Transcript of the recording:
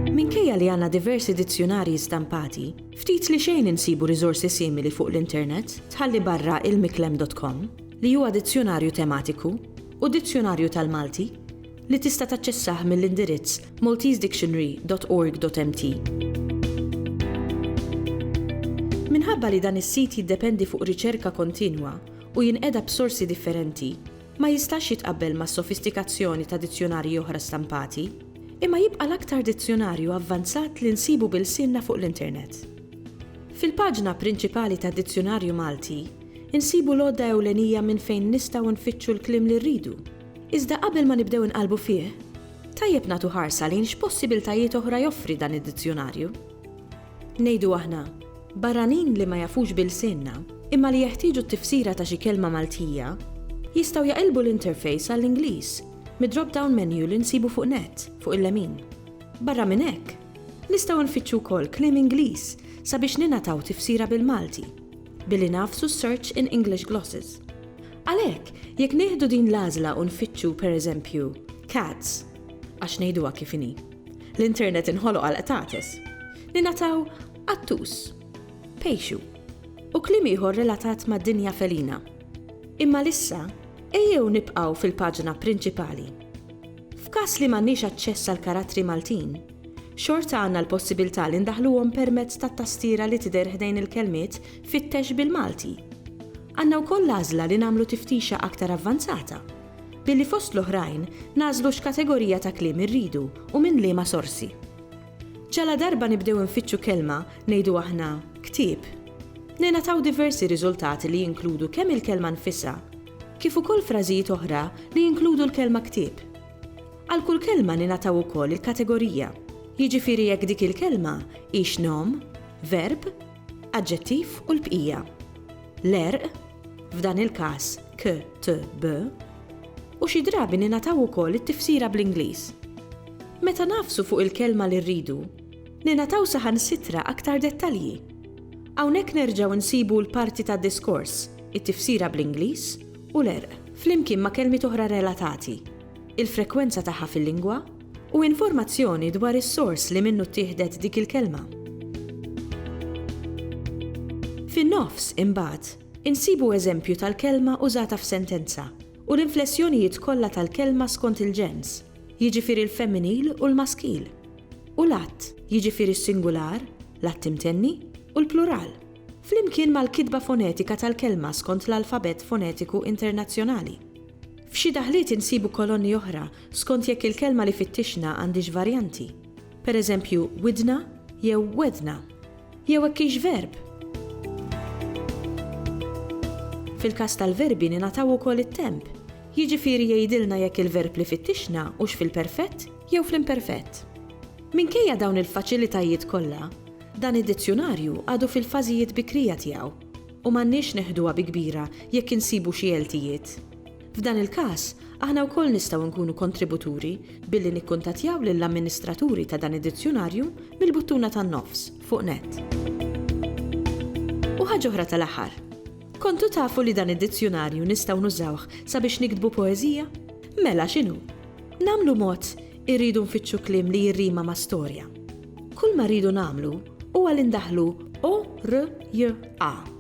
Minkejja li għandna diversi dizzjunarji stampati, ftit li xejn insibu riżorsi simili fuq l-internet, tħalli barra ilmiklem dot com, li huwa dizzjunarju tematiku, u Dizzjunarju tal-Malti, li tista' taċċessah mill-indirizz maltesedictionary.org.mt. Minħabba li dan is-sit jiddependi fuq riċerka kontinwa u jinqeda b'sorsi differenti, ma jistax jitqabbel mas-sofistikazzjoni ta' dizzjunarji oħra stampati, imma jibqa' l-aktar dizzjunarju avvanzat li nsibu b'ilsienna fuq l-internet. Fil-paġna prinċipali tad-Dizzjunarju Malti, insibu l-għodda ewlenija minn fejn nistgħu nfittxu l-kliem li rridu. Iżda qabel ma nibdew inqallbu fih, tajjeb nagħtu ħarsa lejn x'possibiltajiet oħra joffri dan id-dizzjunarju. Ngħidu aħna, barranin li ma jafux b'ilsienna, imma li jeħtieġu t-tifsira ta' xi kelma Maltija, jistgħu jaqilbu l-interface għall-Ingliż mid-drop-down menu li nsibu fuq net, fuq il-lemin. Barra minn hekk, nistgħu nfittxu wkoll kliem Ingliż sabiex ningħataw tifsira bil-Malti, billi nagħfsu s-search in English glosses. Għalhekk, jekk nieħdu din l-għażla u nfittxu, per eżempju, cats, għax ngħiduha kif inhi, l-internet inħoloq għall-qtates, ningħataw qattus, pejxu, u kliem ieħor relatat mad-dinja felina. Imma l-issa, ejjew nibqgħu fil-paġna prinċipali. F'każ li m'għandniex aċċess għal karattri Maltin, xorta għandna l-possibilità li ndaħluhom permezz tat-tastiera li tidher ħdejn il-kelmiet fittex bil-Malti. Għandna wkoll l-għażla li nagħmlu tiftixha aktar avvanzata, billi fost l-oħrajn nagħżlu x'kategorija ta' kliem irridu u minn liema sorsi. Ġaladarba nibdew infittxu kelma, ngħidu aħna, ktieb, ningħataw diversi riżultati li jinkludu kemm il-kelma nfisha, kif ukoll frażijiet oħra li jinkludu l-kelma ktieb. Għal kull kelma ningħataw ukoll il-kategorija, jiġifieri jekk dik il-kelma hix nom, verb, Aġġettiv u l-bqija. L-għerq, f'dan il-każ KTB, u xi drabi ningħataw ukoll it-tifsira bl-Ingliż. Meta ngħafsu fuq il-kelma li rridu, ningħataw saħansitra aktar dettalji. Hawnhekk nerġgħu nsibu l-parti tad-diskors, it-tifsira bl-Ingliż u l-għerq, flimkien ma' kelmiet oħra relatati, il-frekwenza tagħha fil-lingwa, u informazzjoni dwar is-sors li minnu ttieħdet dik il-kelma. Fin-nofs, imbagħad, insibu eżempju tal-kelma użata f'sentenza u l-inflessjonijiet kollha tal-kelma skont il-ġens, jiġifieri l-femminil u l-maskil, u l-att, jiġifieri s-singular, l-att imtenni, u l-plural, flimkien mal-kitba fonetika tal-kelma skont l-Alfabett Fonetiku Internazzjonali. F'xi daħliet insibu kolonni oħra skont jekk il-kelma li fittixna għandhiex varjanti, per eżempju widna jew wedna, jew hekk hix verb. Fil-każ tal-verbi ningħataw ukoll it-temp, jiġifieri jgħidilna jekk il-verb li fittixna hux fil-perfett jew fl-imperfett. Minkejja dawn il-faċilitajiet kollha, dan id-dizzjunarju għadu fil-fażijiet bikrija tiegħu u m'għandniex neħduha bi kbira jekk insibu xi għeltijiet. F'dan il-każ, aħna wkoll nistgħu nkunu kontributuri billi nikkuntattjaw lill-amministraturi ta' dan id-dizzjunarju mill-buttuna tan-nofs, fuq nett. U ħaġa oħra tal-aħħar. Kontu tafu li dan id-dizzjunarju nistgħu nużawh sabiex niktbu poeżija? Mela x'inhu? Nagħmlu mod irridu nfittxu kliem li jirrima ma' storja. Kull ma rridu nagħmlu huwa li ndaħħlu o r j a.